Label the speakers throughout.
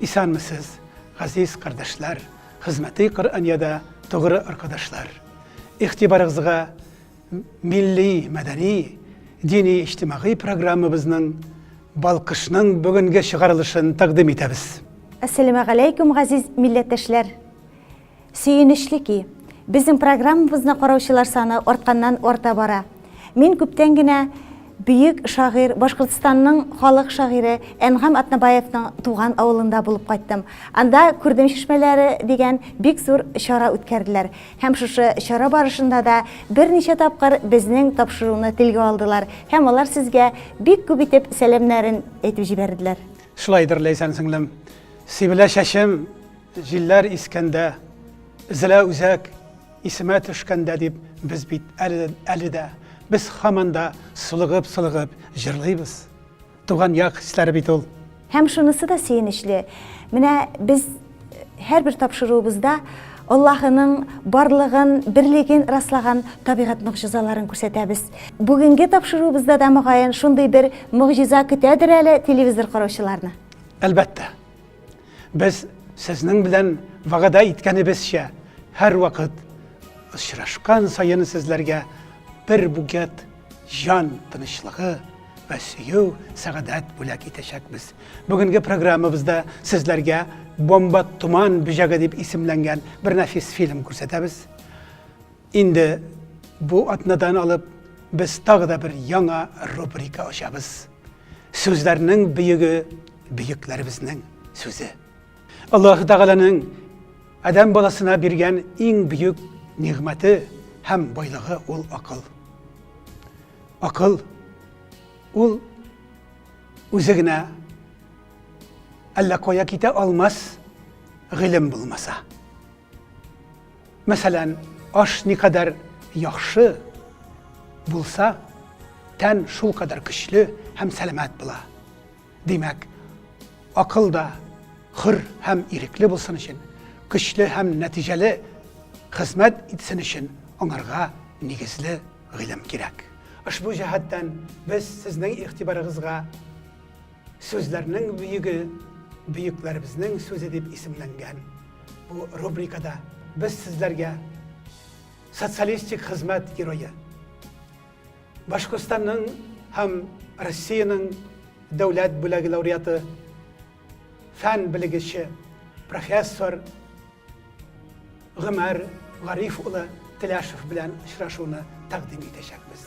Speaker 1: Исәнмесез, газиз кардәшләр, хезмәти Коръәниядә тугры аркадашлар! Игътибарыгызга милли, мәдәни, дини-иҗтимагый программабызның Балкышның бүгенге чыгарылышын тәкъдим итәбез. Әссәләмәгаләйкүм,
Speaker 2: газиз милләттәшләр! Сөенечле ки, безнең программабызны караучылар саны артканнан-арта бара. Мин күптән генә бөек шагыйрь, Башкортстанның халык шагыйре Әнгам Атнабаевның туган авылында булып кайттым. Анда Күрдем чишмәләре дигән бик зур чара үткәрделәр. Һәм шушы чара барышында да берничә тапкыр безнең тапшыруны телгә алдылар һәм алар сезгә бик күп итеп сәламнәрен әйтеп җибәрделәр. Шулайдыр, Ләйсән
Speaker 1: сеңлем. Сибелә чәчем, Җилләр искәндә, Эзлә үзәк, исемә төшкәндә дип без бит әле, әле дә, без һаман да сулыгып-сулыгып җырлыйбыз. Туган як хисләре бит ул. Һәм шунысы да
Speaker 2: сөенечле, менә без һәрбер тапшыруыбызда Аллаһының барлыгын, берлеген раслаган табигать могҗизаларын күрсәтәбез. Бүгенге тапшыруыбызда да, мөгаен, шундый бер могҗиза көтәдер әле телевизор караучыларны. Әлбәттә,
Speaker 1: Без сезнең белән вәгъдә иткәнебезчә, һәрвакыт очрашкан саен сезләргә бер бугет җан тынычлыгы вә сөю, сәгадәт бүләк итәчәкбез. Бүгенге программабызда сезләргә Бомба туман бөҗәге дип исемләнгән бер нәфис фильм күрсәтәбез. Инде бу атнадан алып без тагы да бер яңа рубрика ачабыз. Сүзләрнең бөеге бөекләребезнең сүзе. Аллаһ Тәгаләнең адәм баласына биргән иң бөек нигъмәте һәм байлыгы ул акыл. Акыл ул үзе генә әллә кая китә алмас гыйлем булмаса. Мәсәлән, аш никадәр яхшы булса, тән шулкадәр көчле һәм сәламәт була. Димәк, акыл да хөр һәм ирекле булсын өчен, көчле һәм нәтиҗәле хезмәт итсен өчен аңарга нигезле гыйлем кирәк. Ошбу җәһәттән без сезнең игътибарыгызга Сүзләрнең бөеге бөекләребезнең сүзе дип исемләнгән бу рубрикада без сезләргә социалистик хезмәт герое Башкортстанның һәм Россиянең дәүләт бүләге лауреаты, фән белгече, профессор Гомәр Гариф улы Теләшев белән очрашуны тәкъдим итәчәкбез.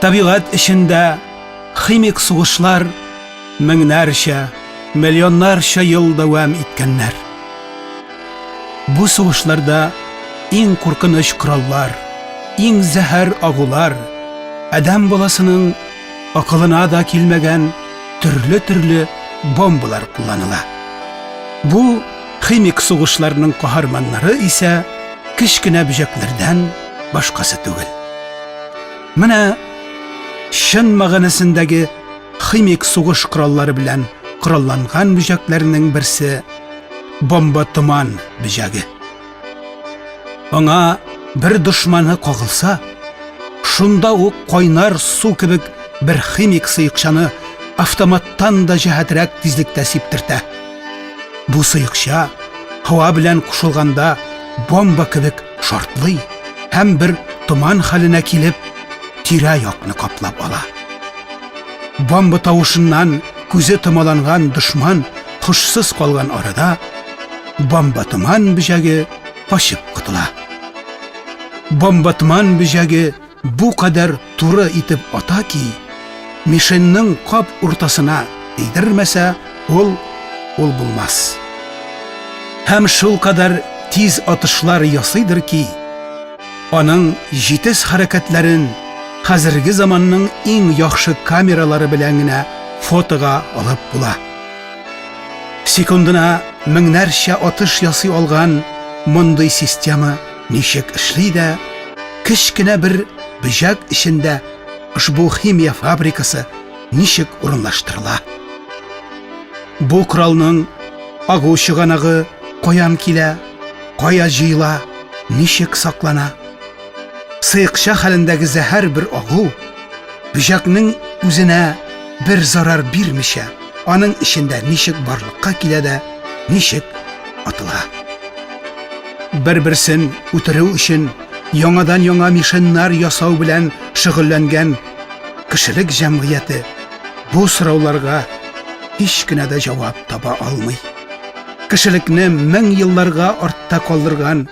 Speaker 1: Табигать эчендә химик сугышлар меңнәрчә, миллионнарча ел дәвам иткәннәр. Бу сугышларда иң куркыныч кораллар, иң зәһәр агулар, адәм баласының акылына да килмәгән төрле-төрле бомбалар кулланыла. Бу химик сугышларның каһарманнары исә кечкенә бөҗәкләрдән башкасы түгел. Менә чын мәгънәсендәге химик сугыш кораллары белән коралланган бөҗәкләрнең берсе бомба томан бөҗәге. Аңа бер дошманы кагылса, шунда ук кайнар су кебек бер химик сыекчаны автоматтан да җәһәтрәк тизлектә сиптертә. Бу сыекча һава белән кушылганда бомба кебек шартлый һәм бер томан хәленә килеп, тирә-якны каплап ала. Бомба тавышыннан күзе томаланган дошман хушсыз калган арада бомба томан бөҗәге качып котыла. Бомба томан бөҗәге Бу кадәр туры итеп ата ки, мишеньның кап уртасына тидермәсә, ул ул булмас. Һәм шул кадәр тиз атышлар ясыйдыр ки, аның җитез хәрәкәтләрен хәзерге заманның иң яхшы камералары белән генә фотога алып була. Секундына меңнәрчә атыш ясый алган мондый система ничек эшли дә, кечкенә бер бөҗәк эчендә ошбу химия фабрикасы ничек урынлаштырыла? Бу коралның агу чыганагы каян килә, кая җыела, ничек саклана? Сыекча хәлендәге зәһәр бер агу бөҗәкнең үзенә бер зарар бирмичә, Аның эчендә ничек барлыкка килә дә ничек атыла. Бер-берсен үтерү өчен яңадан-яңа мишеннар ясау белән шөгыльләнгән кешелек җәмгыяте бу сорауларга һич кенә дә җавап таба алмый. Кешелекне мең елларга артта калдырган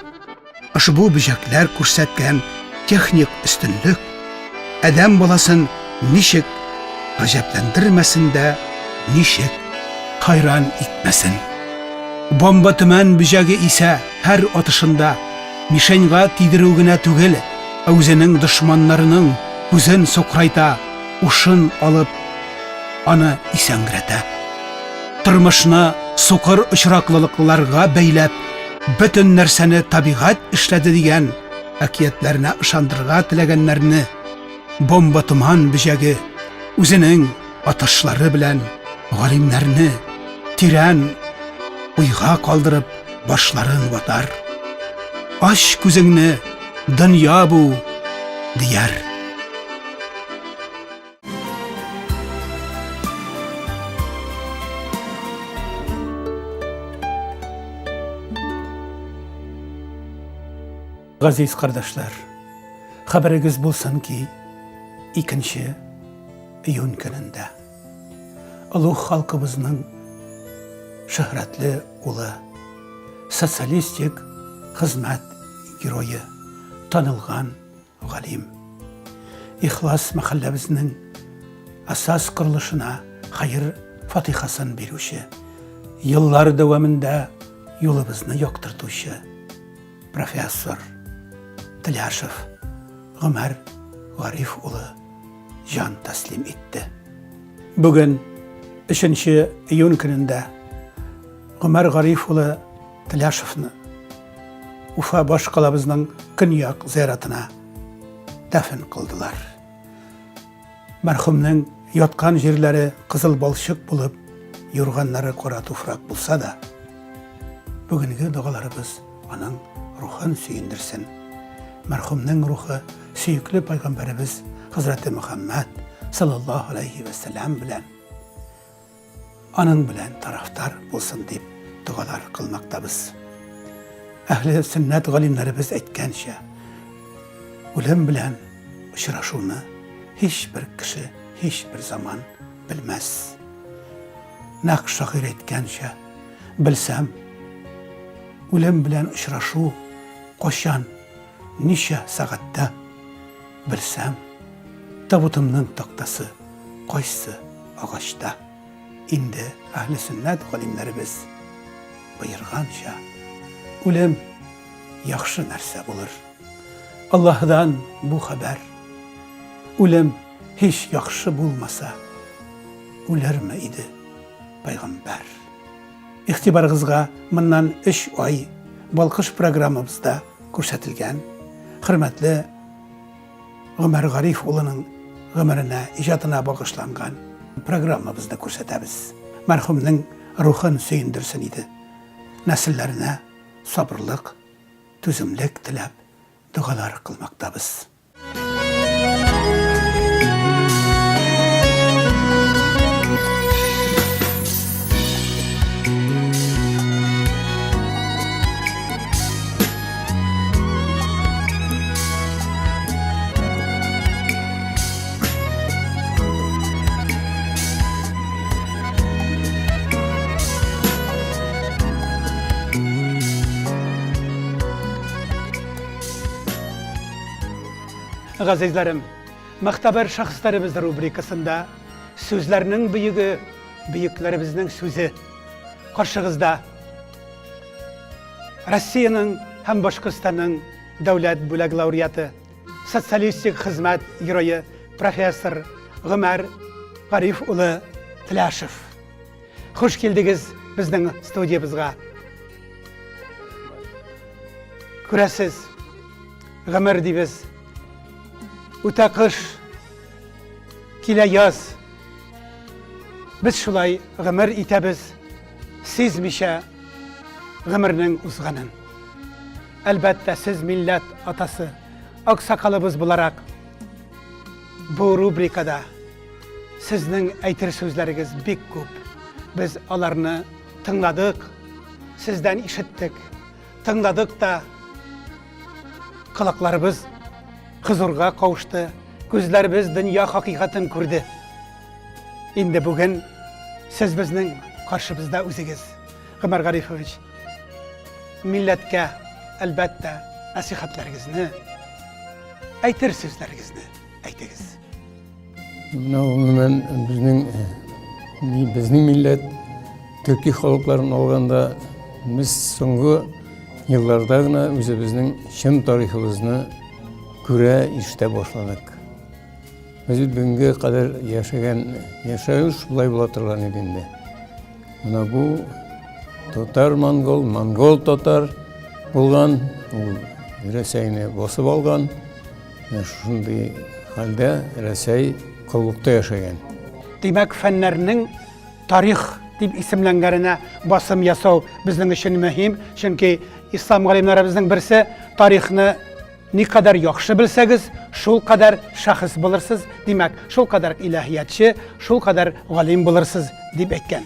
Speaker 1: Ошбу бөҗәкләр күрсәткән техник өстенлек адәм баласын ничек гаҗәпләндермәсен дә, ничек хайран итмәсен. Бомба төмән бөҗәге исә һәр атышында мишеньга тидерү генә түгел, ә үзенең дошманнарының күзен сокрайта, ушын алып, аны исәнгрәтә. Тормышны сукыр очраклылыкларга бәйләп, бөтен нәрсәне табигать эшләде дигән әкиятләренә ышандырырга теләгәннәрне бомба томан бөҗәге үзенең атышлары белән галимнәрне тирән уйга калдырып башларын ватар. Ач күзеңне, дөнья бу, дияр. Газиз кардәшләр, хәбәрегез булсын ки, икенче июнь көнендә олуг халкыбызның шөһрәтле улы, социалистик хезмәт герое, танылган Галим. Ихлас мәхәлләбезнең асас корылышына хәер фатихасын бирүче, еллар дәвамында юлыбызны яктыртучы профессор Тляшев Гомәр Гариф улы җан тәслим итте. Бүген 3 июнь көнендә Гомәр Гариф улы Тляшевны Уфа башкалабызның көньяк зыяратына дәфен кылдылар. Мәрхүмнең яткан җирләре кызыл балчык булып, юрганнары кара туфрак булса да, бүгенге догаларыбыз аның рухын сөендерсен. Мәрхүмнең рухы сөекле пайгамбарыбыз Хәзрәте Мөхәммәд саллаллаһу алейхи ва белән Аның белән тарафтар булсын дип догалар кылмактабыз. Әхле сөннәт галимнәребез әйткәнчә, үлем белән очрашуны һичбер кеше, һичбер заман белмәс. Нәкъ шагыйрь әйткәнчә, белсәм, үлем белән очрашу качан, ничә сәгатьтә, белсәм, табутымның тактасы Кайсы агачта? Инде Әһлесөннәт галимнәребез боерганча, үлем яхшы нәрсә булыр. Аллаһыдан бу хәбәр, Үлем һич яхшы булмаса, үлерме иде пәйгамбәр? Игътибарыгызга моннан өч ай балкыш программабызда күрсәтелгән хөрмәтле Гомәр Гариф улының гомеренә, иҗатына багышланган программабызны күрсәтәбез. Мәрхүмнең рухын сөендерсен иде. Нәселләренә сабырлык, түземлек теләп, догалар кылмактабыз. Газизләрем, мәхтәбәр шәхесләребез рубрикасында сүзләрнең бөеге, бөекләребезнең сүзе. Каршыгызда Россиянең һәм Башкортстанның дәүләт бүләк лауреаты, социалистик хезмәт герое профессор Гомәр Гариф улы Тляшев. Хуш килдегез безнең студиябезгә. Күрәсез, гомер дибез. Үтә кыш, килә яз. Без шулай гомер итәбез. сизмичә гомернең узганын. Әлбәттә, сез милләт атасы, аксакалыбыз буларак, бу рубрикада сезнең әйтер сүзләрегез бик күп. Без аларны тыңладык, сездән ишеттек, тыңладык та, колакларыбыз хозурга кавышты, күзләребез дөнья хакыйкатын күрде. Инде бүген сез безнең каршыбызда үзегез, Гомәр Гарифович. Милләткә, әлбәттә, нәсихәтләрегезне, әйтер сүзләрегезне әйтегез. Менә гомумән
Speaker 3: безнең безнең милләт төрки халыкларын алганда без соңгы елларда гына үзебезнең чын тарихыбызны күрә, ишетә башладык. Без бүгенге кадәр яшәгән яшәү шулай була торган иде инде. Менә бу татар монгол, монгол татар булган, ул Рәсәйне басып алган. Менә шундый хәлдә Рәсәй коллыкта яшәгән. Димәк,
Speaker 1: фәннәрнең тарих дип исемләнгәненә басым ясау безнең өчен мөһим, чөнки ислам галимнәребезнең берсе тарихны Никадәр яхшы белсәгез, шул кадәр шәхес булырсыз, димәк, шул кадәр иләһиятче, шул кадәр галим булырсыз, дип әйткән.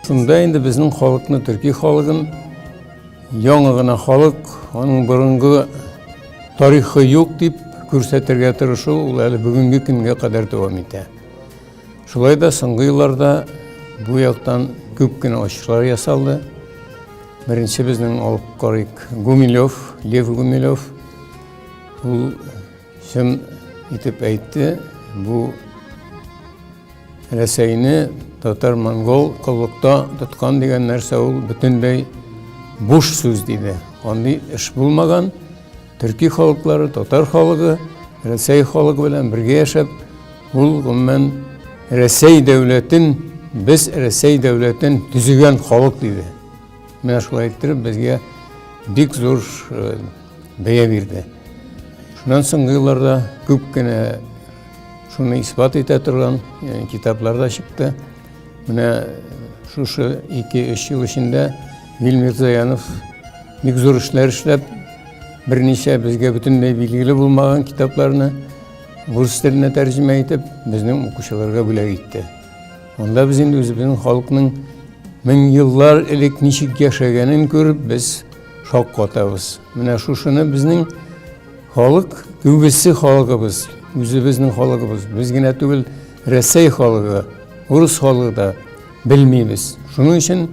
Speaker 3: Шунда инде безнең халыкны, төрки халыгын, яңа гына халык, аның борынгы тарихы юк дип күрсәтергә тырышу, ул әле бүгенге көнгә кадәр дәвам итә. Шулай да соңгы елларда бу яктан күп кенә ачышлар ясалды. Беренче безнең алып карыйк Гумилев, Лев Гумилев. Ул чын итеп әйтте, бу Рәсәйне татар-монгол коллыкта тоткан дигән нәрсә ул бөтенләй буш сүз диде. Андый эш булмаган. Төрки халыклары, татар халыгы, Рәсәй халыгы белән бергә яшәп, Ул гомумән Рәсәй дәүләтен без Рәсәй дәүләтен төзегән халык диде. Менә шулай иттереп безгә бик зур э, бәя бирде. Шуннан соңгы елларда күп кенә шуны исбат итә торган э, китаплар да чыкты. Менә э, шушы 2-3 ел эчендә Вильмир Заянов бик зур эшләр эшләп, берничә безгә бөтенләй билгеле булмаган китапларны Рус теленә тәрҗемә итеп, безнең укучыларга бүләк итте. Монда без инде үзебезнең халыкның мең еллар элек ничек яшәгәнен күреп, без шок катабыз. Менә шушыны безнең халык, күбесе халыгыбыз, үзебезнең халыгыбыз, без генә түгел, Рәсәй халыгы, урыс халыгы да белмибез. Шуның өчен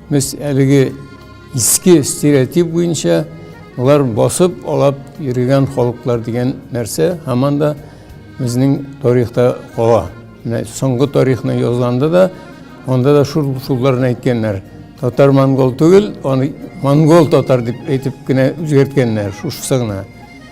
Speaker 3: без әлеге Иске стереотип буенча алар басып алап йөргән халыклар дигән нәрсә һаман да безнең тарихта кала. Менә соңгы тарихны язганда да анда да шул шулларны әйткәннәр. Татар монгол түгел, аны монгол татар дип әйтеп кенә үзгәрткәннәр шушысы гына.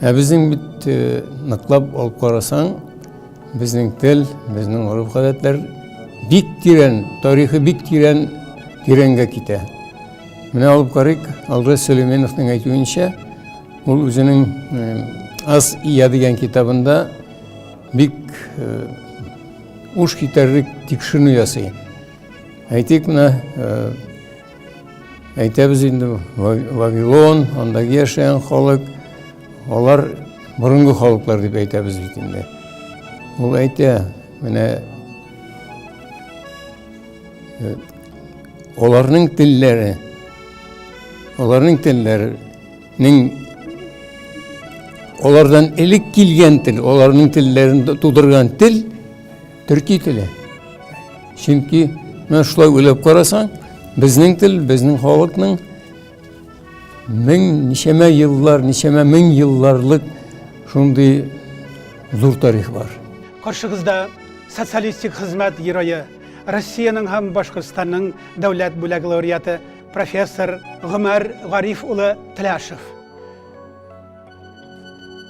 Speaker 3: Ә безнең бит э, ныклап алып карасаң, безнең тел, безнең гореф-гадәтләр бик тирән, тарихы бик тирән, тирәнгә китә. Менә алып карыйк, Алгыз Сөлейменовның әйтүенчә, ул үзенең э, Аз ия дигән китабында бик э, уш китәрлек тикшеренү ясый. Әйтик, менә Әйтәбез инде, Вавилон, андагы яшәгән халык, алар борынгы халыклар дип әйтәбез бит инде. Ул әйтә, менә э, аларның телләре, аларның телләренең алардан элек килгән тел, аларның телләрен тудырган тел Төрки теле. Чөнки менә шулай уйлап карасаң, безнең тел, безнең халыкның мең ничәмә еллар, ничәмә мең елларлык шундый зур тарих бар. Каршыгызда
Speaker 1: социалистик хезмәт герое, Россиянең һәм Башкортстанның дәүләт бүләк лауреаты, профессор Гомәр Гариф улы Тляшев.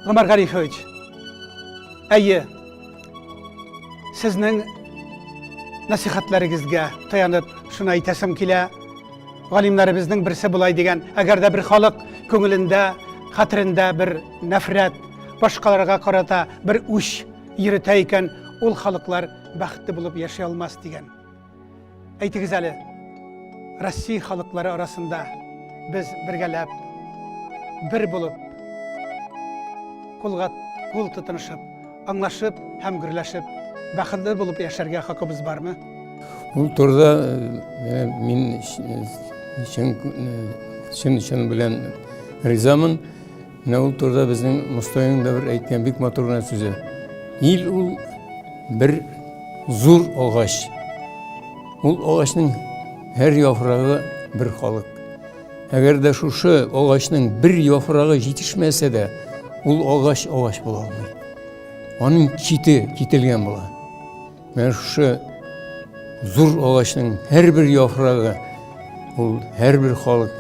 Speaker 1: Гомәр Гарифович, әйе, сезнең нәсихәтләрегезгә таянып шуны әйтәсем килә. Галимнәребезнең берсе болай дигән, әгәр дә бер халык күңелендә, хәтерендә бер нәфрәт, башкаларга карата бер үч йөртә икән, ул халыклар бәхетле булып яши алмас дигән. Әйтегез әле, Россия халыклары арасында без бергәләп, бер булып, кулга кул тотынышып, аңлашып һәм гөрләшеп, бәхетле булып яшәргә хакыбыз бармы? Ул турыда
Speaker 3: э, мин чын чын белән ризамын. Менә ул турыда безнең Мостайның да бер әйткән бик матур гына сүзе. Ил ул бер зур агач. Ул агачның һәр яфрагы бер халык. Әгәр дә шушы агачның бер яфрагы җитешмәсә дә, ул агач агач була алмый. Аның чите кителгән була. Менә шушы зур агачның һәрбер яфрагы, ул һәрбер халык,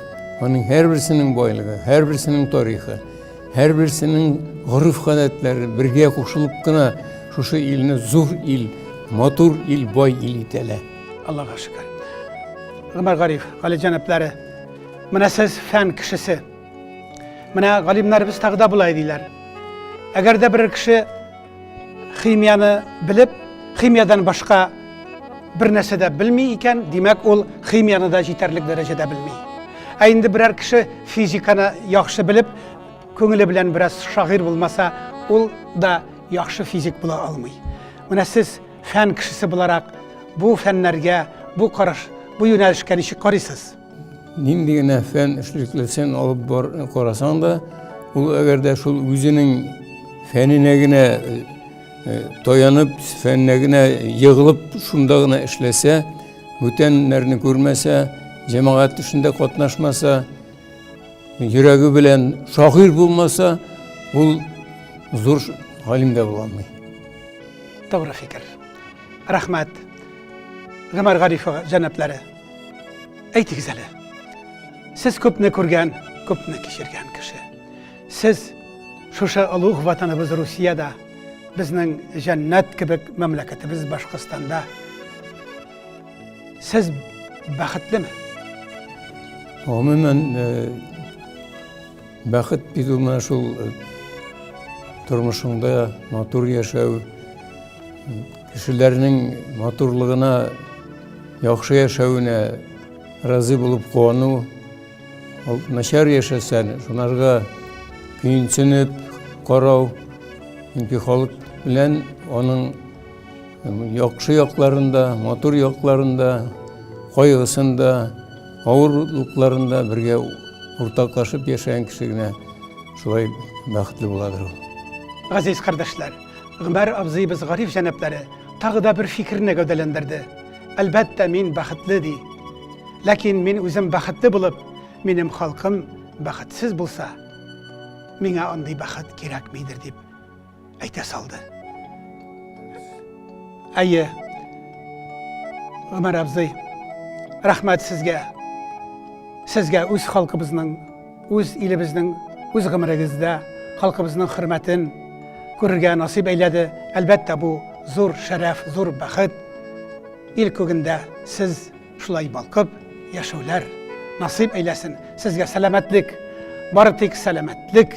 Speaker 3: аның һәрберсенең байлыгы, һәрберсенең тарихы, һәрберсенең гореф-гадәтләре бергә кушылып кына шушы илне зур ил, матур ил, бай ил итәләр. Аллага шөкер.
Speaker 1: Гомәр Гариф, Гали җәнаплары, менә сез фән кешесе. Менә галимнәребез тагы да болай диләр. Әгәр дә бер кеше Химияне белеп, химиядән башка бер нәрсә дә белми икән, димәк, ул химияны да җитәрлек дәрәҗәдә белми. Ә инде берәр кеше физиканы яхшы белеп, күңеле белән бераз шагыйрь булмаса, ул да яхшы физик була алмый. Менә сез фән кешесе буларак, бу фәннәргә, бу караш, бу юнәлешкә ничек карыйсыз? Нинди генә
Speaker 3: фән эшлеклесен алып бар карасаң да, ул әгәр дә шул үзенең фәненә генә э, э, таянып, фәненә генә егылып, шунда гына эшләсә, бүтәннәрне күрмәсә, җәмәгать эшендә катнашмаса, йөрәге белән шагыйрь булмаса, ул зур галим дә була алмый. Тугры
Speaker 1: фикер. Рәхмәт. Гомәр Гарифова җәнаплары. Әйтегез әле, сез күпне күргән, күпне кичергән кеше. Сез шушы олуг ватаныбыз Русиядә, безнең җәннәт кебек мәмләкәтебез Башкортстанда. Сез бәхетлеме?
Speaker 3: Гомумән, э, бәхет бит ул менә шул э, тормышыңда матур яшәү, кешеләрнең матурлыгына яхшы яшәвенә разый булып куану ул начар яшәсәң шунарга көенсенеп карау чөнки халык белән аның яхшы якларында матур якларында кайгысында авырлыкларында бергә уртаклашып яшәгән кеше генә шулай бәхетле буладыр ул Газиз
Speaker 1: кардәшләр! Гомәр абзыебыз Гариф җәнаплары тагы да бер фикерне гәүдәләндерде. Әлбәттә, мин бәхетле, ди. Ләкин мин үзем бәхетле булып, минем халкым бәхетсез булса, миңа андый бәхет кирәкмидер, дип әйтә салды. Әйе, Гомәр абзый, рәхмәт сезгә. Сезгә үз халкыбызның Үз илебезнең үз гомерегездә халкыбызның хөрмәтен күрергә насыйп әйләде. Әлбәттә, бу зур шәрәф, зур бәхет. Ил күгендә сез шулай балкып яшәүләр насыйп әйләсен. Сезгә сәламәтлек, бары тик сәламәтлек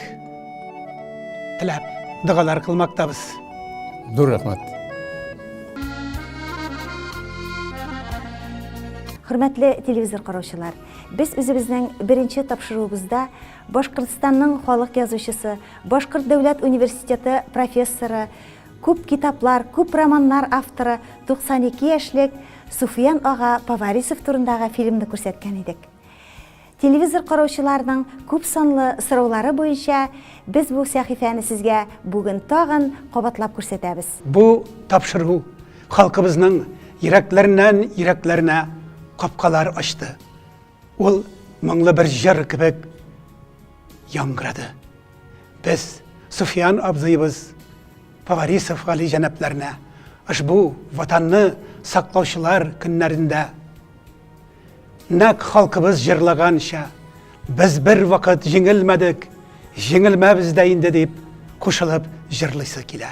Speaker 1: теләп догалар кылмактабыз. Зур
Speaker 3: рәхмәт.
Speaker 2: Хөрмәтле телевизор караучылар, Без үзебезнең беренче тапшыруыбызда Башкортстанның халык язучысы, Башкорт дәүләт университеты профессоры, күп китаплар, күп романнар авторы 92 яшьлек Суфиян ага Поварисов турындагы фильмны күрсәткән идек. Телевизор караучыларның күп санлы сораулары буенча без бу сәхифәне сезгә бүген тагын кабатлап күрсәтәбез. Бу тапшыру
Speaker 1: Халкыбызның йөрәкләреннән йөрәкләренә капкалар ачты. Ул моңлы бер җыр кебек яңгырады. Без Суфиян абзыебыз Поварисов Гали җәнапларына ошбу ватанны саклаучылар көннәрендә нәк халкыбыз җырлаганча без бер вакыт җиңелмәдек, җиңелмәбез дә инде дип кушылып җырлыйсы килә.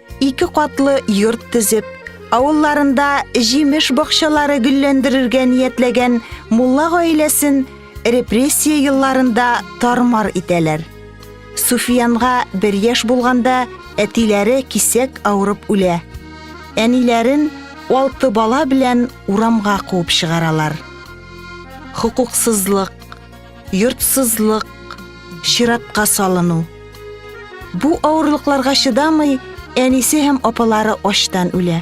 Speaker 2: Ике катлы йорт төзеп, авылларында җимеш бакчалары гөлләндерергә ниятләгән мулла гаиләсен репрессия елларында тармар итәләр. Суфиянга бер яшь булганда әтиләре кисәк авырып үлә. Әниләрен алты бала белән урамга куып чыгаралар. Хокуксызлык, йортсызлык, чиратка салыну. Бу авырлыкларга чыдамый, әнисе һәм апалары ачтан үлә.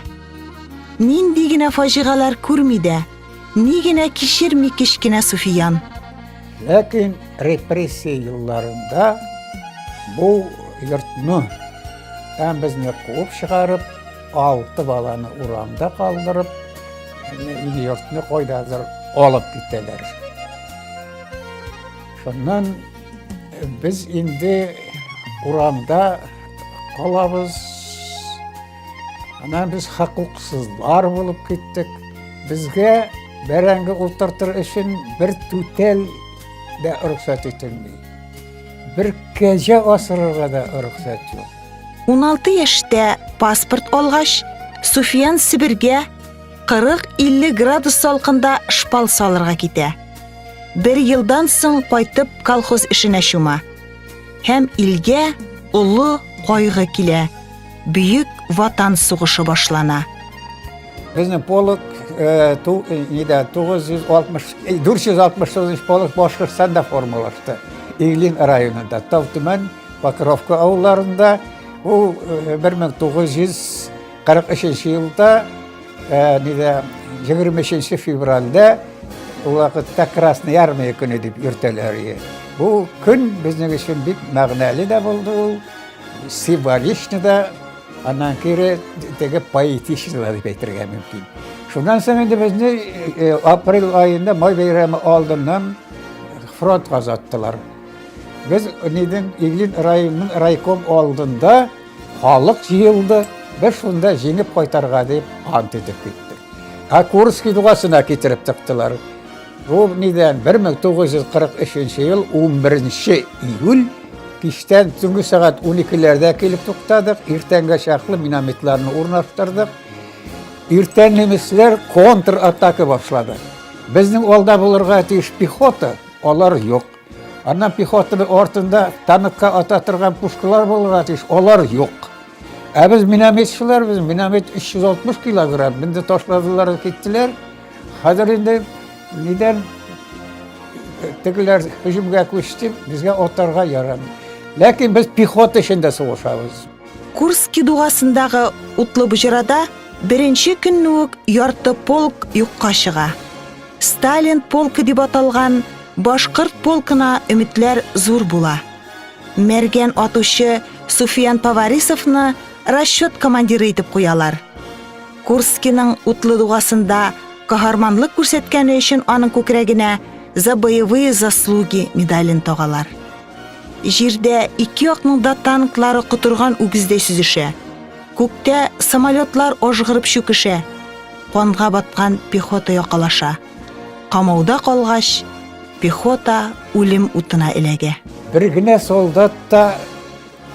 Speaker 2: Нинди генә фаҗигалар күрми дә, ни генә кичерми кечкенә Суфиян. Ләкин
Speaker 4: репрессия елларында бу йортны һәм безне куып чыгарып, Алты баланы урамда калдырып, ил-йортны кайдадыр алып китәләр. Шуннан без инде урамда калабыз. Аннан без хокуксызлар булып киттек. Безгә бәрәңге ултыртыр өчен бер түтәл дә рөхсәт ителми. Бер кәҗә асырырга да рөхсәт юк. 16
Speaker 2: яшьтә паспорт алгач, Суфиян Себергә 40-50 градус салкында шпал салырга китә. Бер елдан соң кайтып колхоз эшенә чума. Һәм илгә олы кайгы килә. Бөек ватан сугышы башлана. Безнең
Speaker 4: полк 469 полк Башкортстанда формалашты. Иглин районында, Тавтүмән Покровка авылларында ул 1943 елда нидә 23 февральдә ул вакытта Красная армия көне дип йөртәләр иде. Бу көн безнең өчен бик мәгънәле дә булды ул, символичны да, аннан кире теге поэтичны да дип әйтергә мөмкин. Шуннан соң инде безне апрель аенда май бәйрәме алдыннан фронт казаттылар. Без нидән Иглин районының райком алдында халык җыелды, без шунда җиңеп кайтарга дип ант итеп киттек. Ә Курский дугасына китереп тыктылар. Бу нидән 1943 ел 11 июль кичтән төнге сәгать 12-ләрдә килеп туктадык, иртәнгә чаклы минометларны урнаштырдык. Иртән немецләр контратака башлады. Безнең алда булырга тиеш пехота, алар юк. Аннан пехотаның артында танкка ата торган пушкалар булырга тиеш, алар юк. Ә без минометчылар, без миномет 360 килограмм, минде ташладылар, киттеләр. Хәзер инде нидән тегеләр һөҗүмгә күчте, безгә атарга ярамый. Ләкин без пехота эчендә сугышабыз. Курски
Speaker 2: дугасындагы утлы боҗрада беренче көнне үк ярты полк юкка чыга. Сталин полкы дип аталган башкорт полкына өметләр зур була. Мәргән атучы Суфиян Поварисовны расчет командиры итеп куялар. Курскиның утлы дугасында каһарманлык күрсәткәне өчен аның күкрәгенә за боевые заслуги медален тагалар. Җирдә ике якның да танклары котырган үгездәй сүзешә. Күктә самолетлар ажгырып чүкешә. канга баткан пехота якалаша. Камауда калгач, пехота үлем утына эләгә. Бер генә
Speaker 4: солдат та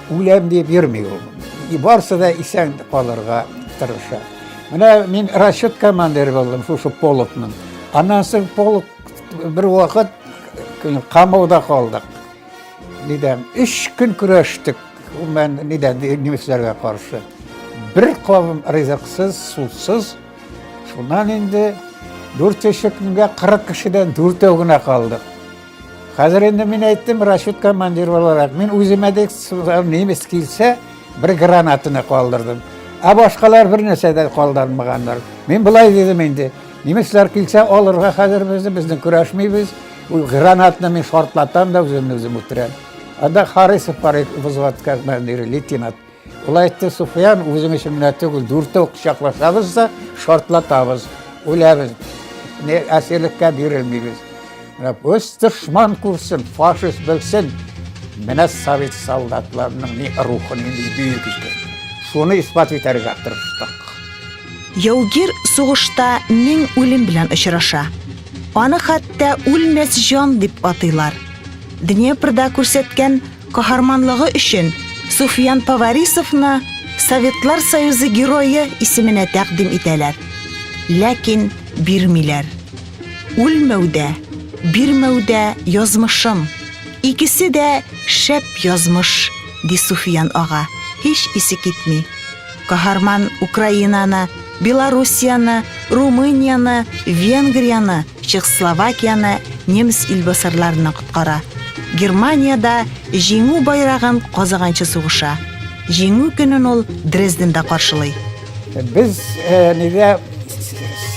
Speaker 4: үләм дип йөрми ул. И барсы да исән калырга тырыша. Менә мин расчет командиры булдым шушы полкның. Аннан соң полк бер вакыт камауда калдык. Нидән? Өч көн көрәштек. Мен нидән немецләргә каршы. Бер кавым ризыксыз, сусыз. Шуннан инде дүрт көнгә 40 кешедән дүртәү генә калдык. Хәзер инде мин әйттем, расчет командир буларак, мин үземә дә немец килсә, бер гранатаны калдырдым. Ә башкалар бер нәрсә дә калдырмаганнар. Мин былай дидем инде, Немецлар килсә, алырга хәзер безне, безне көрәшмибез. Ул гранатны мин шартлатам да үземне үзем үтерәм. Анда Харисов бар иде, взводка командиры, лейтенант. Ул әйтте, Суфиян, үзең өчен генә түгел, дүртәү кочаклашабыз да шартлатабыз, үләбез. Не әсирлеккә бирелмибез. Менә үз дошман күрсен, фашист белсен. Менә совет солдатларының ни рухы, ни бөек икән. Шуны исбат итәргә тырыштык.
Speaker 2: Яугир сугышта мең үлем белән очраша. Аны хәтта үлмәс җан дип атыйлар. Днепрда күрсәткән каһарманлыгы өчен Суфиян Поварисовны Советлар Союзы герое исеменә тәкъдим итәләр. Ләкин бирмиләр. Үлмәүдә, бирмәүдә язмышым. Икесе дә шәп язмыш, ди Суфиян ага, һич исе китми. Каһарман Украинаны, Белоруссияне, Румынияне, Венгрияне, Чехословакияне немец илбасарларыннан коткара. Германиядә Җиңү байрагын казаганчы сугыша. Җиңү көнен ул Дрезденда каршылый. Без
Speaker 4: нигә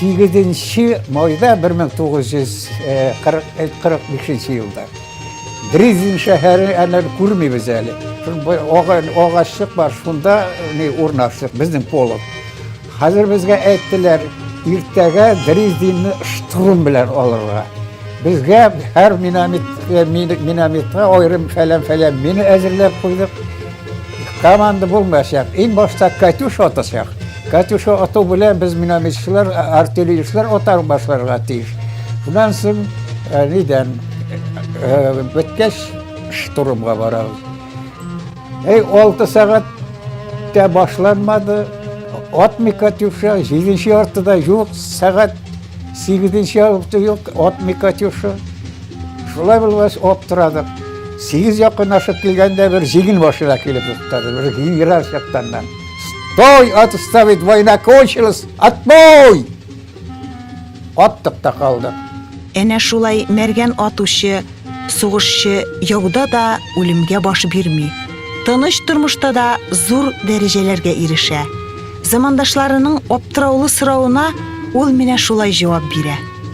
Speaker 4: 8 майда 1945 елда Дрезин шәһәре әнә күрмибез әле. Агачлык бар, шунда не урнаштык, безнең полок. Хәзер безгә әйттеләр, иртәгә Дрезинны штурм белән алырга. Безгә һәр минометка аерым фәлән-фәлән мине әзерләп куйдык. Команда булмаса, иң башта Катюш атасак. Катюш ату белән без минометчылар, артиллеристлар атар башларга тиеш. Шуннан соң э, нидән э, беткәч штурмга барабыз. Эй, 6 сәгать тә башланмады. Атмый Катюша, 7-нче артыда юк, сәгать 8-нче артыда юк, атмый Катюша. Шулай булгач, аптырадык. Сигез якынлашып килгәндә бер җигел машина килеп туктады. Бер генерал чактаннан. Стой, отставить, война кончилась, отбой! Аттык та калдык. Әнә шулай
Speaker 2: мәргән атучы, сугышчы яуда да үлемгә баш бирми. Тыныч тормышта да зур дәрәҗәләргә ирешә. Замандашларының аптыраулы соравына ул менә шулай җавап бирә.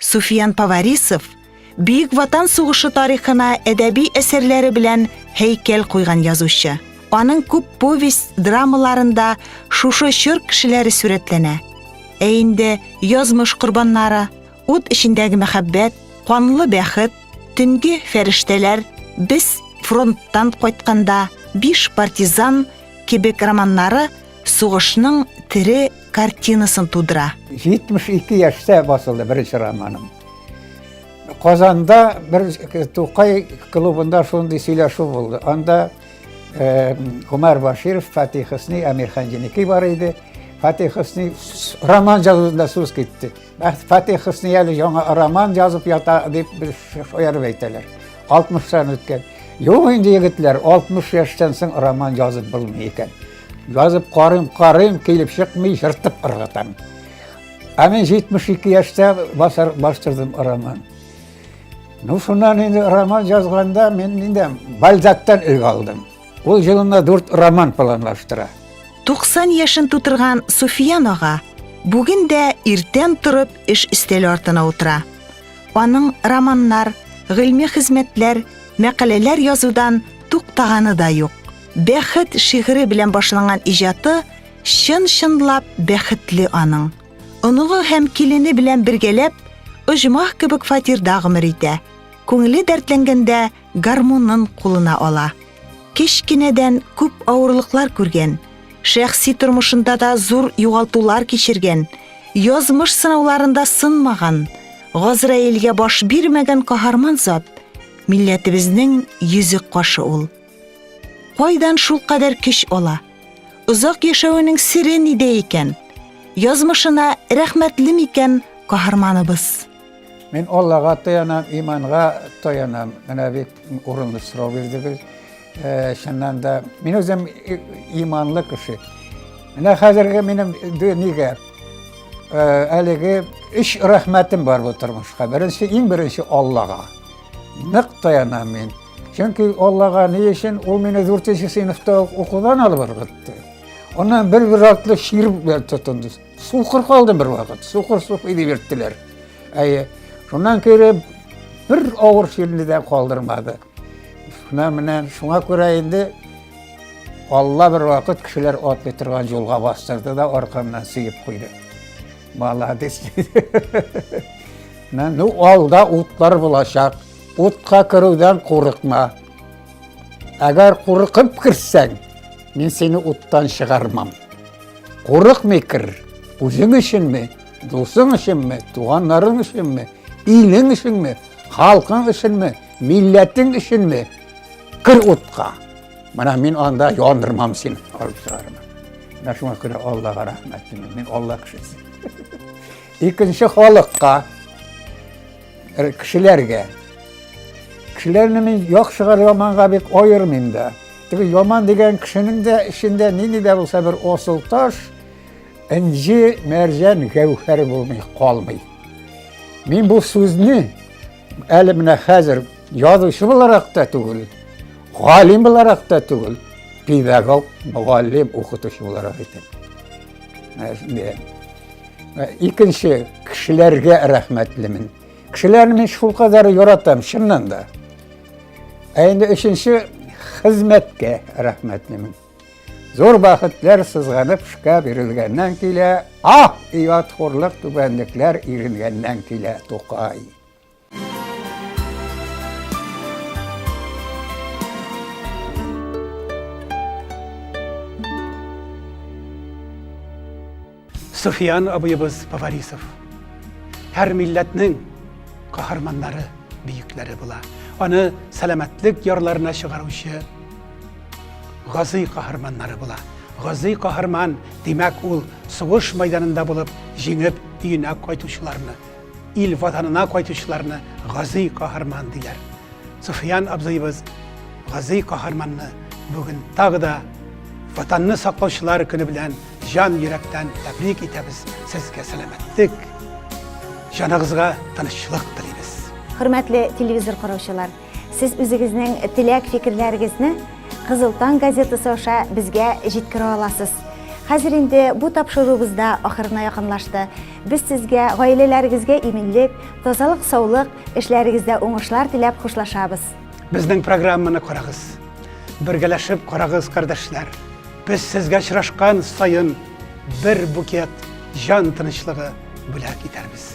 Speaker 4: Суфиян
Speaker 2: Поварисов Бөек Ватан сугышы тарихына әдәби әсәрләре белән һәйкәл куйган язучы. Аның күп повесть драмаларында шушы чор кешеләре сурәтләнә. Ә инде язмыш корбаннары, ут эчендәге мәхәббәт, канлы бәхет, төнге фәрештәләр, без фронттан кайтканда, биш партизан кебек романнары сугышның тере картинасын тудыра. 72
Speaker 4: яшьтә басылды беренче романым. Казанда бер Тукай клубында шундый сөйләшү булды. Анда э, Гомар Баширов, Фатих Хусни, Амир Ханҗиники бар иде. Фатих Хусни роман язуында сүз китте. Фатих Хусни әле яңа роман язып ята дип бер шаярып әйтәләр. 60-тан үткән. Юк инде егетләр, 60 яшьтән соң роман язып булмый икән. Язып карыйм, карыйм, килеп чыкмый, жыртып ыргытам. Ә мен 72 яшьтә басар бастырдым роман. Ну, шуннан инде роман язганда мен инде Бальзактан үлгә алдым. Ул җылына дүрт роман планлаштыра. 90
Speaker 2: яшен тутырган Суфиян ага бүген дә иртән торып эш өстәле артына утыра. Аның романнар, гыйльми хезмәтләр, мәкаләләр язудан туктаганы да юк. Бәхет шигыре белән башланган иҗаты чын-чынлап бәхетле аның. Оныгы һәм килене белән бергәләп оҗмах кебек фатирда гомер итә. Күңеле дәртләнгәндә гармунын кулына ала. Кечкенәдән күп авырлыклар күргән, шәхси тормышында да зур югалтулар кичергән, язмыш сынауларында сынмаган, Газраилгә баш бирмәгән каһарман зат милләтебезнең йөзек кашы ул. Кайдан
Speaker 5: шулкадәр көч ала? Озак яшәвенең сире нидә икән? Язмышына рәхмәтле микән каһарманыбыз? Мин
Speaker 4: Аллага таянам, иманга таянам. Менә бик урынлы сорау бирдегез. Э, чыннан да, мин үзем иманлы кеше. Менә хәзерге минем нигә э, әлеге өч рәхмәтем бар бу тормышка. Беренче, иң беренче Аллага. Нык таянам мин. Чөнки Аллага ни өчен ул мине 4 сыйныфта укудан алып ыргытты. Аннан бер бер атлы шир белән тотынды. Сукыр калдым бер вакыт. Сукыр сукый дип йөрттеләр. Әйе. Шуннан кереп бер авыр ширне дә калдырмады. Шуна менә шуңа күрә инде Алла бер вакыт кешеләр атлый торган юлга бастырды да аркамнан сөеп куйды. Молодец Мен, ну, алда утлар булачак. Утка керүдән курыкма. Әгәр курыкып керсәң, мин сине уттан чыгармам. Курыкмый кер. Үзең өченме, дусың өченме, туганнарың өченме, илең өченме, халкың өченме, милләтең өченме? Кер утка. Менә мин анда яндырмам син алып чыгармын. Менә шуңа күрә Аллага рәхмәт димим. Мин Алла кешесе. Икенче халыкка кешеләргә кешеләрне мин яхшыга яманга бик аермыйм да. Теге яман дигән кешенең дә эчендә нинди дә булса бер асыл таш, инҗи, мәрҗән, гәүһәр булмый, калмый. Мин бу сүзне Әле менә хәзер язучы буларак та түгел, галим буларак та түгел, педагог, мөгаллим, укытучы буларак әйтәм. Икенче кешеләргә рәхмәтлемен. Кешеләрне мин шул кадәр яратам, чыннан да. Ә инде өченче хезмәткә рәхмәтлемен. Зур бәхетләр сызганып шка бирелгәннән килә, ах, ият хурлык түбәнлекләр иренгәннән килә, Тукай.
Speaker 1: Суфиян абыебыз Поварисов. Һәр милләтнең каһарманнары, бөекләре була. Аны сәламәтлек ярларына чыгаручы газый каһарманнары була. Газый каһарман, димәк, ул сугыш майданында булып, җиңеп, өенә кайтучыларны Ил ватанына кайтучыларны газый каһарман диләр. Суфиян абзыебыз газый каһарманны бүген тагы да ватанны саклаучылар көне белән җан йөрәктән тәбрик итәбез. Сезгә сәламәтлек, җаныгызга тынычлык телибез. Хөрмәтле
Speaker 2: телевизор караучылар, Сез үзегезнең теләк-фикерләрегезне Кызыл таң газетасы аша безгә җиткерә аласыз. Хәзер инде бу тапшыруыбыз да ахырына якынлашты. Без сезгә, гаиләләрегезгә иминлек, тазалык, саулык, эшләрегездә уңышлар теләп хушлашабыз. Безнең
Speaker 1: программаны карагыз. Бергәләшеп карагыз, кардәшләр. Без сезгә очрашкан саен бер букет җан тынычлыгы бүләк итәрбез.